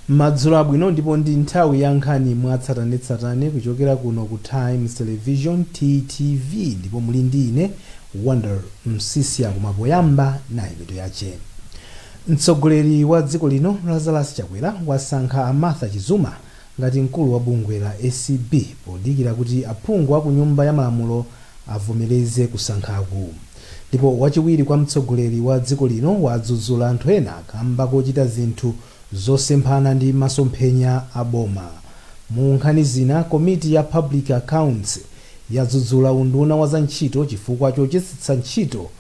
Madzulo abwino ndipo ndi nthawi ya nkhani mwatsatanetsatane kuchokera kuno ku Times Television, TTV, ndipo muli ndi ine Wonder Msisia koma poyamba nayi mitu yache. Mtsogoleri wa dziko lino Lazarus Chakwera wasankha a Martha Chizuma ngati mkulu wa bungwe la acb podikira kuti aphungu aku nyumba ya malamulo avomereze kusankhaku. Ndipo wachiwiri kwa mtsogoleri wa dziko lino wadzudzula anthu ena kamba kochita zinthu zosemphana ndi masomphenya a boma. Mu nkhani zina, komiti ya Public Accounts yadzudzula unduna wa za ntchito chifukwa chochetsetsa ntchito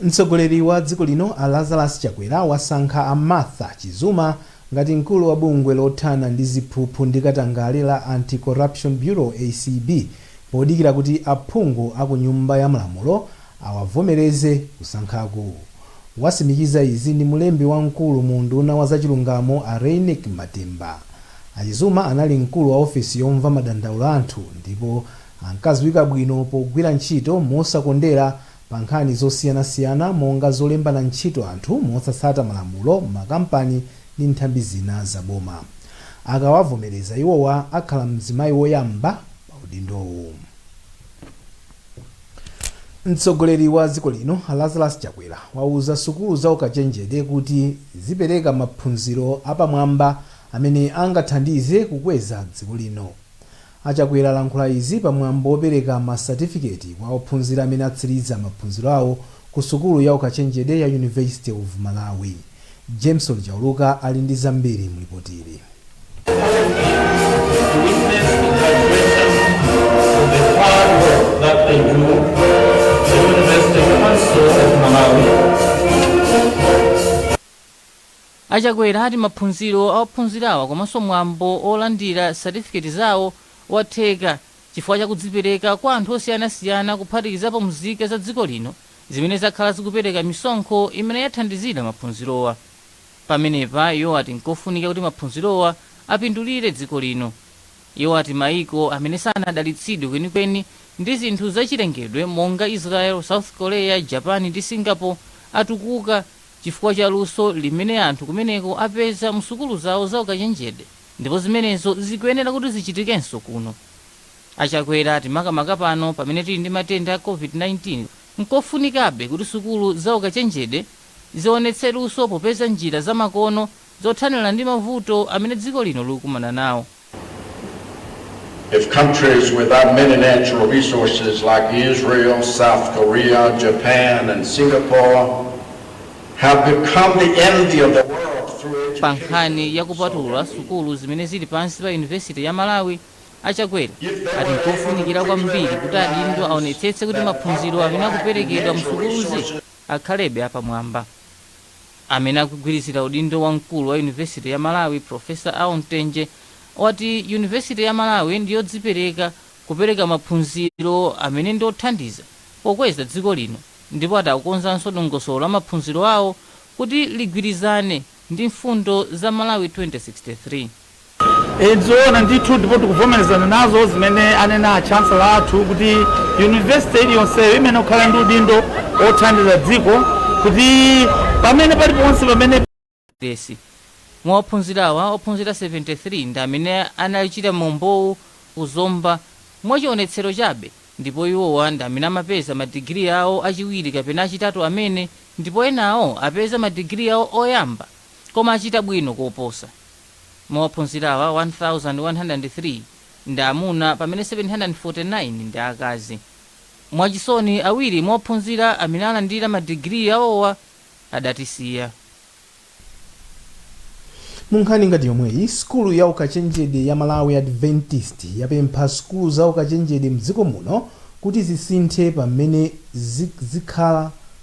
Mtsogoleri wa dziko lino a Lazarus Chakwera wasankha a Martha Chizuma ngati mkulu wa bungwe lothana ndi ziphuphu ndi katangale la Anti-Corruption Bureau, acb, podikira kuti aphungu a ku nyumba ya malamulo awavomereze kusankhaku. Wasimikiza izi ndi mlembi wamkulu mu unduna wa zachilungamo a Reyneck Matemba. A Chizuma anali mkulu wa ofisi yomva madandaulo a anthu ndipo Ankadziwika bwino pogwira ntchito mosakondera pa nkhani zosiyanasiyana monga zolembana ntchito anthu mosatsata malamulo m'makampani ndi nthambi zina za boma. Akawavomereza iwowa akhala mzimayi woyamba pa udindowu. Mtsogoleri wa dziko lino Lazarus Chakwera wauza sukulu za ukachenjede kuti zipereka maphunziro apamwamba amene angathandize kukweza dziko lino. A Chakwera alankhula izi pa mwambo wopereka masatifiketi kwa ophunzira amene atsiliza maphunziro awo ku sukulu ya ukachenjede ya University of Malawi. Jameson Chauluka ali ndi zambiri mu lipotili. A Chakwera ati maphunziro a ophunzirawa komanso mwambo olandira satifiketi zawo watheka chifukwa cha kudzipereka kwa anthu osiyanasiyana kuphatikizapo mzika za dziko lino zimene zakhala zikupereka misonkho imene yathandizira maphunzirowa. Pamenepa iwo ati nkofunika kuti maphunzirowa apindulire dziko lino. Iwo ati maiko amene sanadalitsidwe kwenikweni ndi zinthu zachilengedwe monga Israel, South Korea, Japan ndi Singapore atukuka. chifukwa cha luso limene anthu kumeneko apeza mu sukulu zawo za ukachenjede ndipo zimenezo zikuyenera kuti zichitikenso kuno. A Chakwera ati makamaka pano pamene tili ndi matenda a Covid-19, nkofunikabe kuti sukulu za ukachenjede zionetse luso popeza njira za makono zothanira ndi mavuto amene dziko lino likukumana nawo. If countries without many natural resources like Israel, South Korea, Japan, and Singapore have become the envy of the world through education. Pa nkhani ya kupatula sukulu zimene zili pansi pa yunivesiti ya malawi achakwera ati nkofunikira kwambiri kuti adindo aonetsetse kuti maphunziro amene akuperekedwa mu sukuluzi akhalebe apamwamba Amene akugwirizira udindo wa mkulu wa University ya Malawi Professor Al Mtenje wati University ya Malawi ndiyodzipereka kupereka maphunziro amene ndi othandiza pokweza dziko lino ndipo ati akukonzanso dongosolo la maphunziro awo kuti ligwirizane ndi mfundo za Malawi 2063. Ndizoona ndithu ndipo tikuvomerezana nazo zimene anena a Chancellor athu kuti University iliyonseyo imayenera kukhala ndi udindo wothandiza dziko kuti pamene paliponse pamene. Mwa ophunzirawa, ophunzira 73 ndi amene anachita mwambowu ku Zomba mwachionetsero chabe ndipo iwowa ndi amene amapeza ma degree awo achiwiri kapena achitatu amene ndipo enawo apeza ma degree awo oyamba. koma achita bwino koposa. Mwa ophunzira awa, 1,103 ndi amuna pamene 749 ndi akazi. Mwachisoni, awiri mwa ophunzira amene alandira madigiri awowa adatisiya. Mu nkhani ngati yomweyi, sukulu ya ukachenjede ya Malawi Adventist yapempha sukulu za ukachenjede mdziko muno kuti zisinthe pa mmene zakhala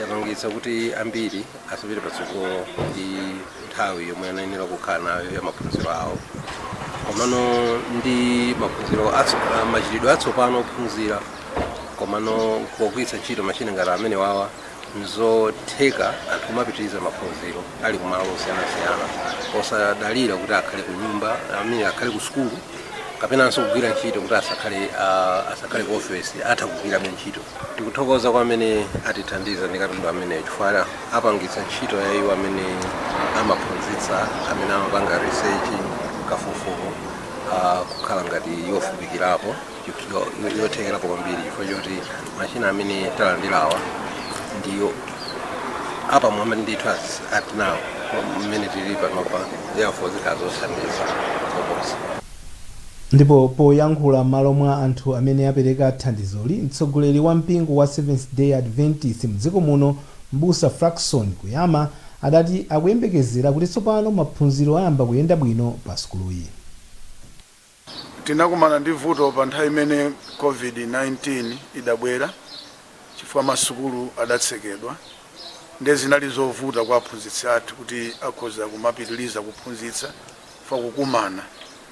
yapangitsa kuti ambiri asapite patsogolo ndi nthawi yomwe anayenera kukhala nayo ya maphunziro awo komano ndi maphunziro atso- ah, machitidwe atsopano ophunzira komano pogwiritsa ntchito mashini ngati amene wawa nzotheka anthu kumapitiriza maphunziro ali kumalo osiyanasiyana osadalira kuti akhale ku nyumba amene akhale ku sukulu kapenanso kugwira ntchito kuti asakhale ah, asakhale ku ofesi atha kugwirabe ntchito Tikuthokoza kwa amene atithandiza ndi katundu ameneyu chifukwa apangitsa ntchito ya iwo amene amaphunzitsa, amene amapanga research, kafukufuku, ah, kukhala ngati yophwekerapo, chif- yo- yo- yothekerapo kwambiri chifukwa choti machina amene talandirawa ndi yo- apamwamba ndithu as at now mmene tili panopa therefore zikhala zothandiza koposa. Ndipo poyankhula m'malo mwa anthu amene apereka thandizoli, mtsogoleri wa mpingo wa Seventh Day Adventist mdziko muno m'busa Frackson Kuyama adati akuyembekezera kuti tsopano maphunziro ayamba kuyenda bwino pa sukuluyi. Tinakumana ndi vuto pa nthawi imene Covid-19 idabwera chifukwa masukulu adatsekedwa nde zinali zovuta kwa aphunzitsi athu kuti akhoza kumapitiliza kuphunzitsa. pa kukumana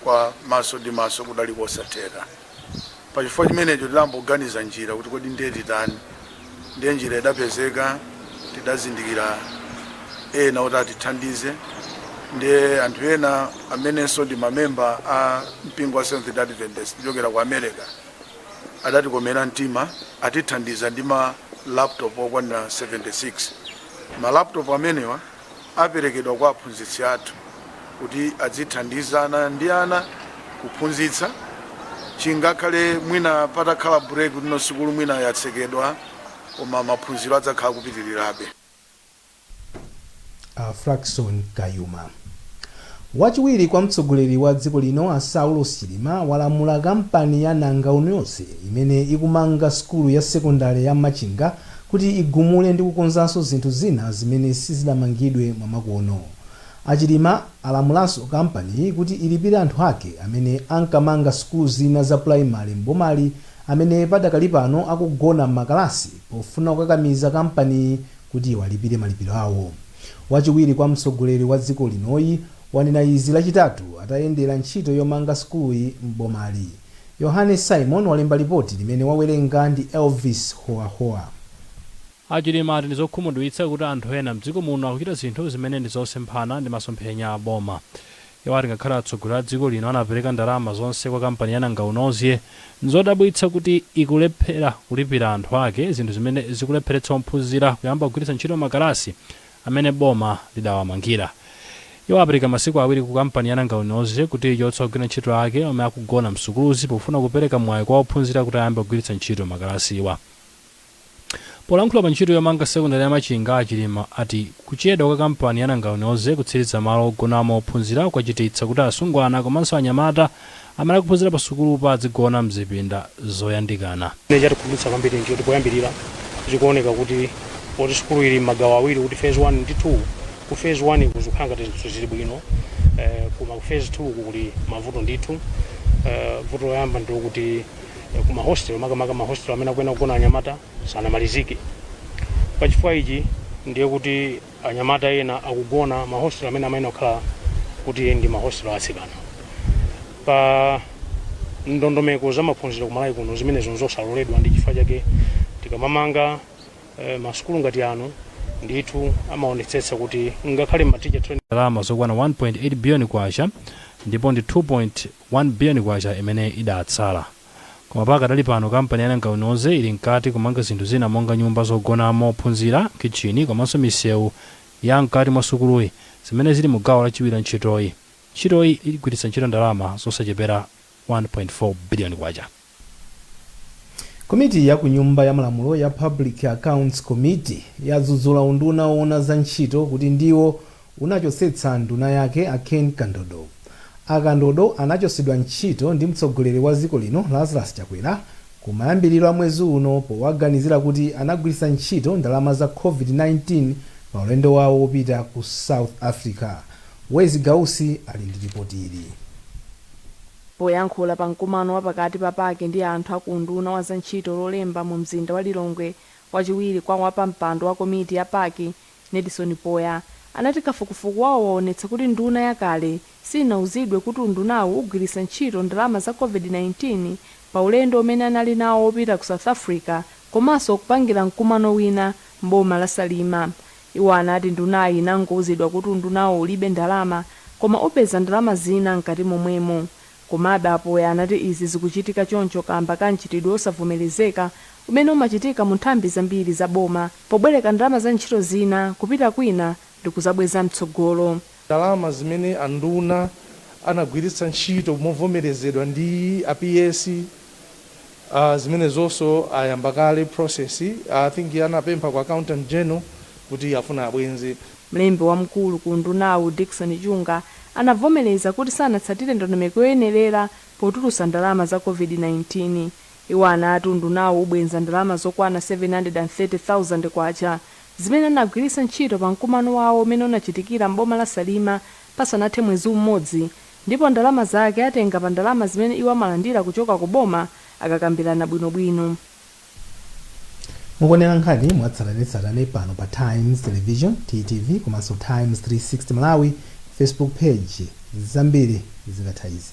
kwa maso ndi maso kudali kosatheka. Pa chifukwa chimenecho tidamboganiza njira kuti kodi ndiye titani. Ndiye njira idapezeka, tidazindikira ena oti atithandize. Ndiye anthu ena amenenso ndi mamemba a mpingo wa Seventh Day Adventist kuchokera ku America adatikomera mtima, atithandiza ndi ma laptop okwanira 76. Ma laptop amenewa. aperekedwa kwa aphunzitsi athu kuti adzithandizana ndi ana kuphunzitsa chingakhale mwina patakhala break kuti no sukulu mwina yatsekedwa koma maphunziro adzakhala akupitirirabe. A Frackson Kayuma. Wachiwiri kwa mtsogoleri wa dziko lino a Saulos Chilima walamula kampani ya Nangaunozge imene ikumanga sukulu ya sekondale ya Machinga kuti igumule ndi kukonzanso zinthu zina zimene sizidamangidwe mwamakono. A Chilima alamulanso kampaniyi kuti ilipire anthu ake amene ankamanga sukulu zina za primary m'bomali amene padakali pano akugona m'makalasi pofuna kukakamiza kampaniyi kuti iwalipire malipiro awo. Wachiwiri kwa mtsogoleri wa dziko linoyi wanena izi Lachitatu atayendera ntchito yomanga sukuluyi m'bomali. Yohane Symon walemba lipoti limene wawerenga ndi Elvis Hoahoa. A Chilima ati ndi zokhumudwitsa kuti anthu ena mdziko muno akuchita zinthu zimene ndi zosemphana ndi masomphenya a boma. Iwo ati ngakhale atsogoleri a dziko lino anapereka ndalama zonse kwa kampani ya Nangaunozge, nzodabwitsa kuti ikulephera kulipira anthu ake, zinthu zimene zikulepheretsa ophunzira kuyamba kugwiritsa ntchito makalasi. amene boma lidawamangira. Iwo apereka masiku awiri ku kampani ya Nangaunozge kuti ichotse ogwira ntchito ake omwe akugona msukuluzi pofuna kupereka mwayi kwa ophunzira kuti ayambe kugwiritsa ntchito makalasiwa. Polankhula pa ntchito yomanga sekondale ya Machinga, a Chilima ati kuchedwa kwa kampani ya Nangaunozge kutsiriza malo ogonamo ophunzira kwachititsa kuti asungwana komanso anyamata Amene akuphunzira pasukulupa adzigona m'zipinda zoyandikana. Chimene chatikhumudwitsa kwambiri n'choti poyambirira zikuoneka kuti poti sukulu ili m'magawo awiri kuti Phase 1 ndi 2, ku Phase 1ku zikukhala ngati zinthu zili bwino koma ku Phase 2ku kuli mavuto ndithu. Vuto loyamba ndi lokuti ku ma hostel makamaka ma hostel amene akuyenera kugona anyamata sanamalizike. Pa chifukwa ichi ndiye kuti. Anyamata ena akugona m'ma hostel amene amayenera kukhala kuti ndi ma hostel a atsikana. Pa ndondomeko za maphunziro ku Malawi kuno zimenezo nzosaloledwa ndi chifukwa chake tikamamanga ma sukulu ngati ano ndithu amaonetsetsa kuti ngakhale m'ma teacher training. Ndalama zokwana K1.8 billion ndipo ndi K2.1 billion imene idatsala. Koma pakadali pano kampani ya Nangawinoze ili mkati kumanga zinthu zina monga nyumba zogonamo ophunzira, khitchini komanso misewu ya mkati mwa sukuluyi zimene zili mu gawo lachiwiri la ntchitoyi. Ntchitoyi igwiritsa ntchito ndalama zosachepera K1.4 biliyoni. Komiti ya ku Nyumba ya Malamulo ya Public Accounts Committee yadzudzula unduna owona za ntchito kuti ndiwo unachotsetsa nduna yake a Ken Kandodo. A Kandodo anachotsedwa ntchito ndi mtsogoleri wa dziko lino Lazarus Chakwera kumayambiriro a mwezi uno powaganizira kuti anagwiritsa ntchito ndalama za Covid-19 pa ulendo wawo wopita ku South Africa. Wezi Gausi ali ndi lipoti ili. Poyankhula pa mkumano wa pakati pa PAC ndi anthu a ku unduna wa za ntchito Lolemba mu mzinda wa Lilongwe, wachiwiri kwa wapampando wa komiti ya PAC Nedson Poya anati kafukufuku wawo waonetsa kuti nduna yakale sinauzidwe kuti undunawu ugwiritsa ntchito ndalama za Covid-19 pa ulendo umene anali nawo wopita ku South Africa komanso kupangira mkumano wina m'boma la Salima. Iwo anati ndunayi inangouzidwa kuti undunawo ulibe ndalama koma upeza ndalama zina mkati momwemo. Komabe a Poya anati izi zikuchitika choncho kaamba ka mchitidwe osavomerezeka umene umachitika mu nthambi zambiri za boma pobwereka ndalama za ntchito zina kupita kwina ndikuzabweza mtsogolo. Ndalama zimene a nduna anagwiritsa ntchito movomerezedwa ndi a PS Aaa zimenezonso ayamba kale process I think anapempha ku accountant general kuti afuna abwenze. Mlembi wamkulu ku undunawu Dickson Chunga anavomereza kuti sanatsatire ndondomeko yoyenerera potulusa ndalama za Covid-19. Iwo anati undunawu ubwenza ndalama zokwana K730,000 zimene anagwiritsa ntchito pa mkumano wawo umene unachitikira m'boma la Salima pasanathe mwezi umodzi ndipo ndalama zake atenga pa ndalama zimene iwo amalandira kuchoka ku boma akakambirana bwinobwino. Mukuonera nkhani mwatsatanetsatane pano pa Times Television, TTV, komanso Times 360 Malawi Facebook Page. Zambiri zikatha izi.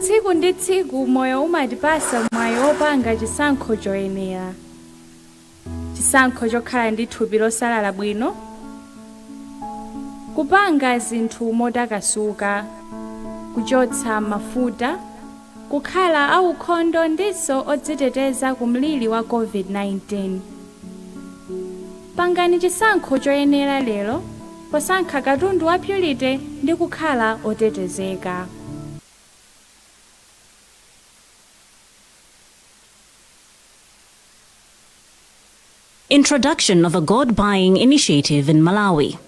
tsiku ndi tsiku moyo umatipasa mwayi wopanga chisankho choyenera chisankho chokhala ndi thupi losalala bwino kupanga zinthu motakasuka kuchotsa mafuta kukhala aukhondo ndinso odziteteza ku mliri wa COVID-19. Pangani chisankho choyenera lero posankha katundu wa Purity ndi kukhala otetezeka. Introduction of a Gold Buying Initiative in Malawi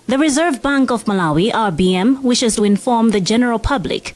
The Reserve Bank of Malawi, RBM, wishes to inform the general public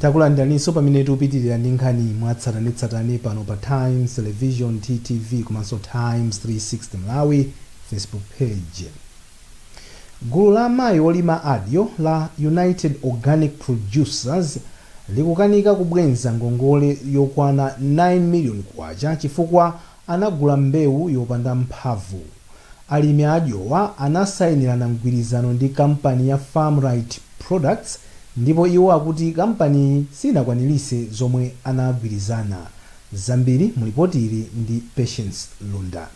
Takulandiraninso pamene tikupitilira ndi nkhani mwatsatanetsatane pano pa Times Television, TTV, komanso Times 360 Malawi Facebook page. Gulu la amayi olima adyo la United Organic Producers likukanika kubwenza ngongole yokwana K9 million chifukwa anagula mbewu yopanda mphamvu. Alimi adyowa anasainirana mgwirizano ndi kampani ya Farmrite Products ndipo iwo akuti kampaniyi siyinakwanilitse zomwe anagwirizana. Zambiri mu lipoti ili ndi Patience Lunda.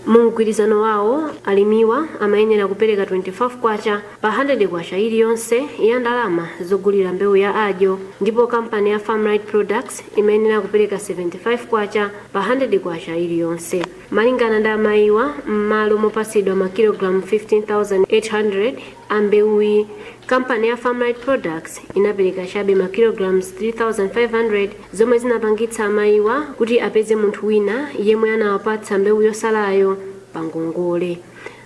Mu mgwirizano wawo, alimiwa amayenera kupereka K25. pa K100 iliyonse ya ndalama zogulira mbewu ya adyo ndipo kampani ya Farmrite Products imayenera kupereka K75 pa K100 iliyonse. Malingana ndi amayiwa, mmalo mopatsidwa makilogalamu 15,800 a mbewuyi, kampani ya Farmrite Products inapereka chabe makilogalamu 3,500 zomwe zinapangitsa amayiwa kuti apeze munthu wina yemwe anawapatsa mbewu yotsalayo pa ngongole.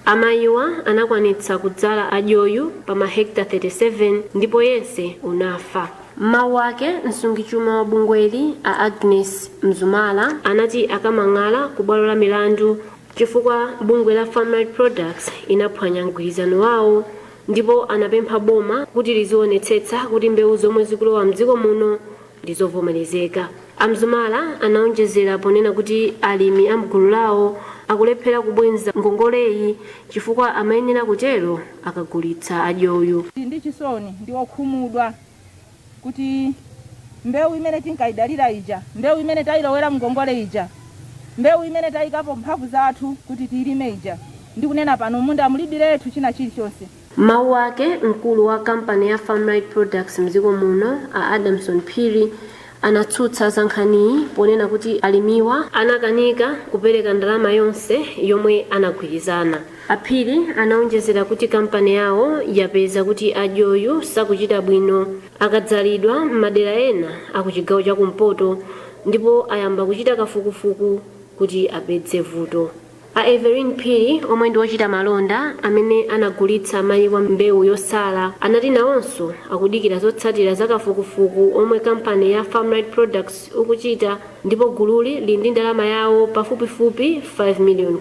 Amayiwa anakwanitsa kudzala adyoyu pa mahekitala 37 ndipo yense unafa. M'mawu ake, msungichuma wa bungweli a Agness Mzumara anati akamang'ala ku bwalo la milandu chifukwa bungwe la Farmrite Products inaphwanya mgwirizano wawo ndipo anapempha boma kuti lizionetsetsa kuti mbewu zomwe zikulowa mdziko muno ndi zovomerezeka. A Mzumara anaonjezera ponena kuti alimi a mgulu lawo akulephera kubwenza ngongoleyi chifukwa amayenera kutero akagulitsa adyoyu. Tili ndi chisoni ndi okhumudwa kuti mbewu imene tinkayidalira ija, mbewu imene tayilowera mngongole ija, mbewu imene tayikapo mphamvu zathu kuti tiyilime ija, ndikunena pano m'munda mulibiretu china chilichonse. M'mawu ake, mkulu wa kampani ya Farmright Products mdziko muno, a Adamson Phiri, anatsutsa za nkhaniyi ponena kuti alimiwa anakanika kupereka ndalama yonse yomwe anagwirizana. A Phiri anaonjezera kuti kampani yawo yapeza kuti adyoyu sakuchita bwino akadzalidwa m'madera ena a ku chigawo cha kumpoto ndipo ayamba kuchita kafukufuku kuti apeze vuto. A Everine Phiri, omwe ndi ochita malonda amene anagulitsa amayiwa mbewu yosala, anati nawonso akudikira zotsatira za kafukufuku omwe kampani ya Farmright Products ikuchita ndipo gululi lili ndi ndalama yawo pafupifupi K5 million.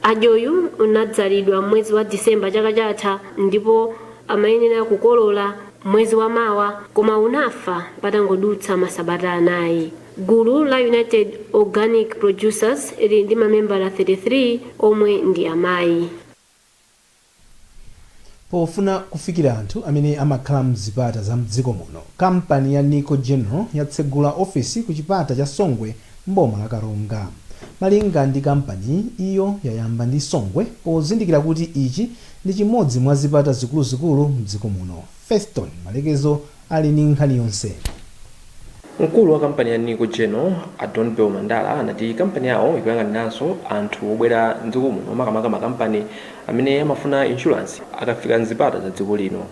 Adyoyu unadzalidwa m'mwezi wa December chaka chatha ndipo amayenera kukolola mwezi wa mawa koma unafa patangodutsa masabata anayi. Gulu la United Organic Producers lili ndi mamembala 33 omwe ndi amayi. Pofuna kufikira anthu amene amakhala mzipata za mdziko muno, kampani ya Nico General yatsegula ofisi ku chipata cha Songwe m'boma la Karonga. Malinga ndi kampaniyi, iyo yayamba ndi Songwe pozindikira kuti ichi ndi chimodzi mwa zipata zikuluzikulu mdziko muno. Feston Malekezo. ali ndi nkhani yonse. Mkulu wa kampani ya Nico General, a Donbell Mandala, anati kampani yawo ikuyang'aniranso anthu obwera m'dziko muno makamaka makampani amene amafuna inshulansi akafika m'zipata za dziko lino.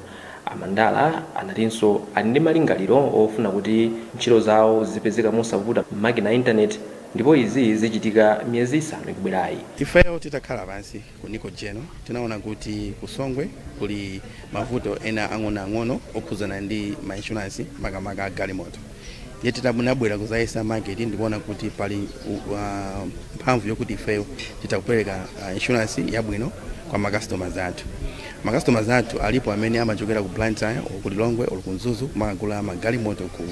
A Mandala anatinso ali ndi malingaliro ofuna kuti ntchito zawo zizipezeka mosavuta m'makina a intaneti ndipo izi zichitika miyezi isanu ikubwerayi. Ifeyo titakhala pansi Ku Nico General, tinaona kuti ku Songwe kuli mavuto ena ang'onoang'ono okhudzana ndi ma insurance makamaka a galimoto. Ndiye tinabwera kudzayesa market ndikuona kuti pali u- wa- mphamvu yokuti ifeyo titha kupereka ah, insurance yabwino kwa ma customers athu. Ma customers athu alipo amene amachokera ku Blantyre, or ku Lilongwe, or ku Mzuzu kumagula magalimoto ku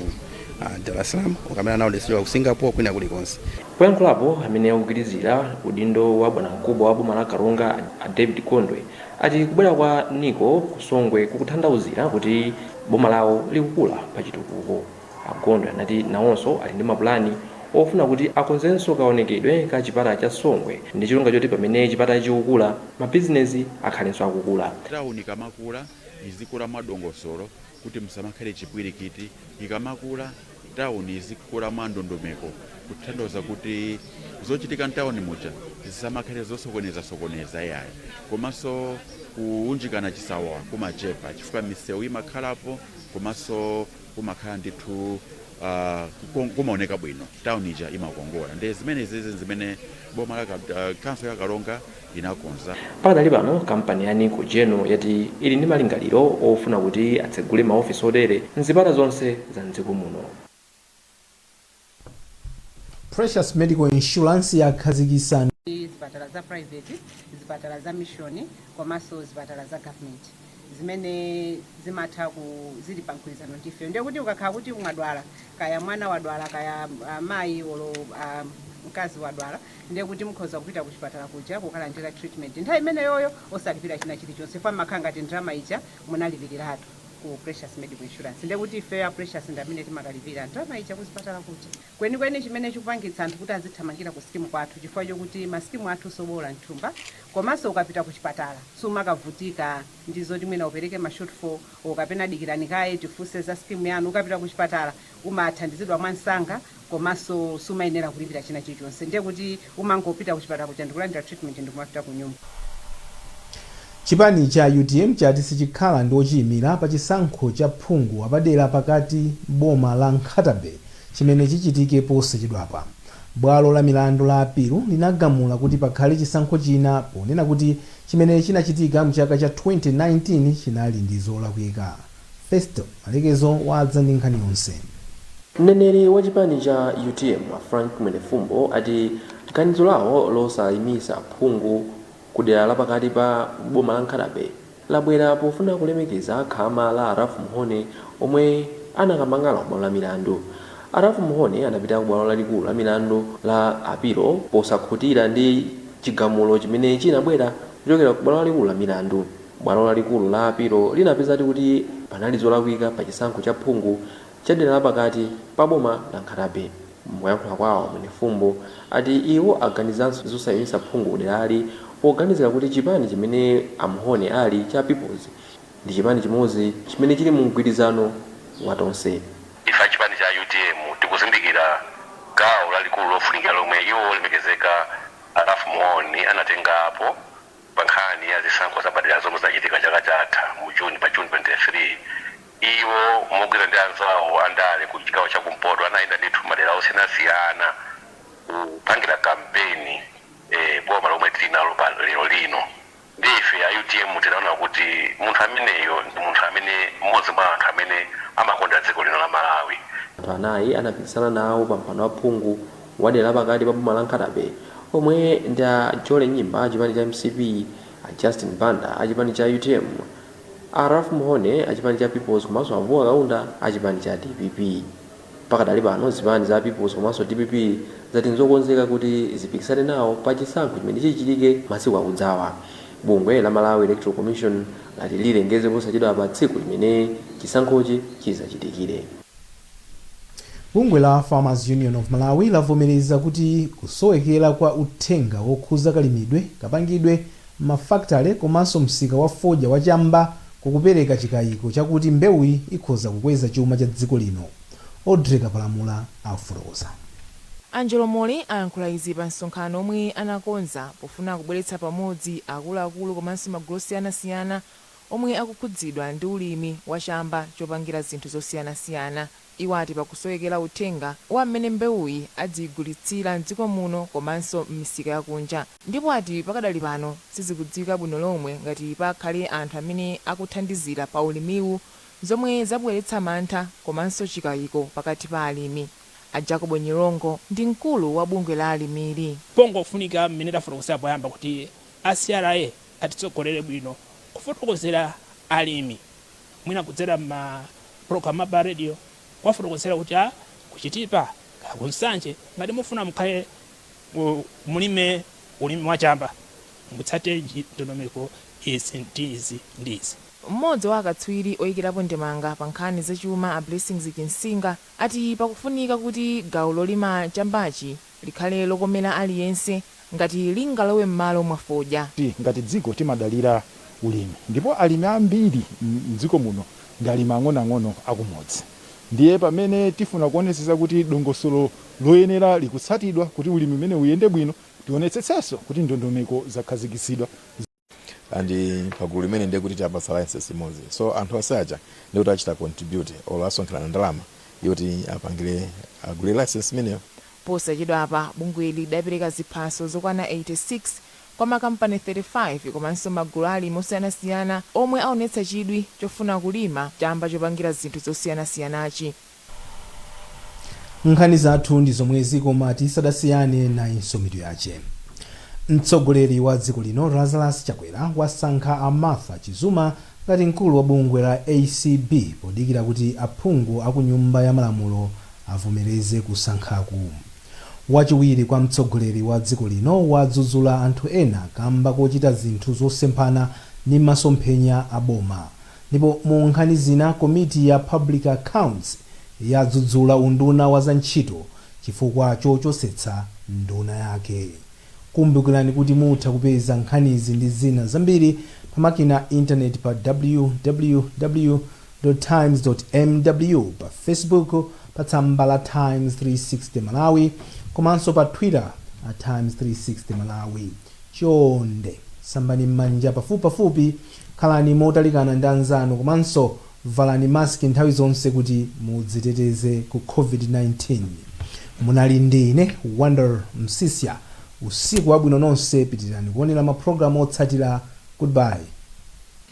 ah, Dar es Salaam, or kamene amaodetsera ku Singapore kwina kulikonse. Poyankhulapo, amene akugwirizira udindo wa bwanamkubwa wa boma la Karonga a David Gondwe ati kubwera kwa Nico ku Songwe kukutanthauzira kuti boma lawo likukula pa chitukuko. A Gondwe anati nawonso ali ndi mapulani ofuna kuti akonzenso kaonekedwe ka chipata cha Songwe ndi cholinga choti pamene chipatachi chikukula, mabizinezi akhalenso akukula. Town ikamakula izikula mwadongosolo kuti musamakhale chipwirikiti ikamakula. town izikula mwa ndondomeko kutanthauza kuti zochitika mtown muja zisamakhale zosokoneza sokoneza yayi komanso kuunjikana chisawawa kumachepa chifukwa misewu imakhalapo komanso kumakhala ndithu ah, kuko- kumaoneka bwino town ija imakongola ndi zimene zizi zimene boma la Kap- ah, council ya Karonga inakonza. Pakadali pano, kampani ya Nico General yati ili ndi malingaliro ofuna kuti atsegule ma office otere mzipata zonse za m'dziko muno. Precious Medical Insurance yakhazikitsa zipatala za private, zipatala za mission komanso zipatala za government zimene zimatha ku zili pa mgwirizano ndi ife ndiye kuti ukakhala kuti mwadwala kaya mwana wadwala kaya mayi olo mkazi wadwala ndiye kuti mukhoza kupita kuchipatala kuja kukalandira treatment nthawi imeneyoyo osalipira china chilichonse chifukwa mmakhala ngati ndalama ija munalipiliratu ku Precious Medical Insurance ndiye kuti ifeyo a Precious ndi amene timakalipira ndalama ija kuchipatala kuja. Kwenikweni chimene chikupangitsa anthu kuti azithamangira ku scheme kwathu chifukwa chokuti ma scheme athu soboola m'thumba komanso ukapita kuchipatala sumakavutika ndi zoti mwina upereke ma shortfall kapena dikirani kaye tifunse za scheme yanu, ukapita kuchipatala umathandizidwa mwansanga komanso sumayenera kulipira china chilichonse ndiye kuti umangopita kuchipatala kuja ndikulandira treatment ndikumapita kunyumba. Chipani cha utm chati sichikhala ndi ochiyimira pa chisankho cha phungu wapadera pakati m'boma la Nkhata-Bay chimene chichitike posachedwapa. Bwalo la milandu la apilu linagamula kuti pakhale chisankho china ponena kuti chimene chinachitika mchaka cha 2019 chinali ndi zolakwika. Festo Malekezo wadza ndi nkhani yonse. Mneneri wa chipani cha utm a Frank Mwenefumbo ati ganizo lawo losayimisa phungu ku dera la pakati pa boma la Nkhatabe labwera pofuna kulemekeza khama la a Ralph Mhone omwe anakamang'ala ku bwalo la milandu. A Ralph Mhone anapita ku bwalo lalikulu la milandu la apilo posakhutira ndi chigamulo chimene chinabwera kuchokera ku bwalo lalikulu la milandu. Bwalo lalikulu la apilo linapezadi kuti panali zolakwika pa chisankho cha phungu cha dera la pakati pa boma la Nkhata-Bay. Mkuyankhula kwawo, Mwenefumbo ati iwo aganizanso zosayimisa phungu kuderali poganizira kuti chipani chimene a Mhone ali cha Peoples ndi chipani chimodzi chimene chili mu mgwirizano wa Tonse. Ife a chipani cha utm tikuzindikira gawo lalikulu lofunikira lomwe iwo olemekezeka a Ralph Mhone anatengapo. Pa nkhani ya zisankho zapadera zomwe zinachitika chaka chatha mu June, pa June 23, iwo mogwira ndi anzawo a ndale ku chigawo cha kumpoto anayenda ndithu m'madera osiyanasiyana kupangira kampeni boma lomwe tili nalo pa lero lino. Ndiye ife a utm tinaona kuti munthu ameneyo ndi munthu amene m'modzi mwa anthu amene amakonda dziko lino la Malawi. Anthu anayi anapikisana nawo pa mpando wa phungu wadera la pakati pa boma la Nkhatabay omwe ndi a Jolly Nyimba achipani cha mcp, a Justin Banda achipani cha utm, a Ralph Mhone achipani cha Peoples komanso a Vuwa Kaunda achipani cha dpp. Pakadali pano zipani za Peoples komanso dpp zati nzokonzeka kuti zipikisane nawo pa chisankho chimene chichitike masiku akudzawa. Bungwe la Malawi Electoral Commission lati lilengeze posachedwapa tsiku limene chisankhochi chizachitikire. Bungwe la Farmers Union of Malawi lavomereza kuti kusowekera kwa uthenga wokhuza kalimidwe, kapangidwe, mafakitale komanso msika wa fodya wa chamba kukupereka chikayiko chakuti mbewuyi ikhoza kukweza chuma cha dziko lino. Audrey Kapalamula afotokoza. Angelo Mole ayankhula izi pa msonkhano omwe anakonza pofuna kubweretsa pamodzi akuluakulu komanso magulu osiyanasiyana omwe akukhudzidwa ndi ulimi wa chamba chopangira zinthu zosiyanasiyana. Iwo ati pakusowekera uthenga wa mmene mbewuyi adziigulitsira m'dziko muno komanso m'misika ya kunja ndipo ati pakadali pano sizikudziwika bwino lomwe ngati pakhale anthu amene akuthandizira pa ulimiwu zomwe zabweretsa mantha komanso chikaiko pakati pa alimi. A Jacob Nyirongo ndi mkulu wa bungwe la alimili. Pangofunika mmene tafotokozera poyamba kuti a C.R.A. atitsogolere bwino kufotokozera alimi mwina kudzera mma program apa radio kuwafotokozera kuti kaya ku chitipa kaya ku nsanje ngati mufuna mukhale mulime ulimi wa chamba mutsate ndondomeko izi ndi izi ndi izi. Mmodzi wa akatswiri oyikirapo ndemanga pa nkhani za chuma a Blessings Chinsinga ati pakufunika kuti gawo lolima chambachi Likhale lokomera aliyense ngati lingalowe m'malo mwa fodya. Ngati dziko timadalira ulimi ndipo alimi ambiri m'dziko muno ndi alimi ang'onoang'ono akumudzi. Ndiye pamene tifuna kuonetsetsa kuti dongosolo loyenera likutsatidwa kuti ulimi umenewu uyende bwino, tionetsetsenso kuti ndondomeko zakhazikitsidwa. and pagulu limene ndiye kuti tiwapatsa license imodzi so anthu onse aja ndiye kuti achita contribute or asonkherana ndalama yoti apangire agule license imeneyo posachedwapa bungweli lidapereka ziphaso zokwana 86 kwa makampani 35 komanso magulu alimi osiyanasiyana omwe aonetsa chidwi chofuna kulima chamba chopangira zinthu zosiyanasiyanachi Nkhani zathu ndi zomwezi koma tisadasiyane nayinso mitu yache. Mtsogoleri wa dziko lino Lazarus Chakwera wasankha a Martha Chizuma ngati mkulu wa bungwe la acb podikira kuti aphungu a ku nyumba ya malamulo avomereze kusankhaku. Wachiwiri kwa mtsogoleri wa dziko lino wadzudzula anthu ena kamba kochita zinthu zosemphana ndi masomphenya a boma. Ndipo mu nkhani zina, komiti ya Public Accounts yadzudzula unduna wa za ntchito chifukwa chochosetsa nduna yake. Kumbukirani kuti mutha kupeza nkhanizi ndi zina zambiri pa makina a internet pa www. Times. mw, pa Facebook pa tsamba la Times 360 Malawi komanso pa Twitter at Times 360 Malawi. Chonde sambani m'manja pafupipafupi, khalani motalikana ndi anzanu komanso valani mask nthawi zonse kuti mudziteteze ku COVID-19. Munali ndi ine Wonder Msiska. Usiku wabwino nonse, pitirirani kuonera mapulogalamu otsatira. Goodbye.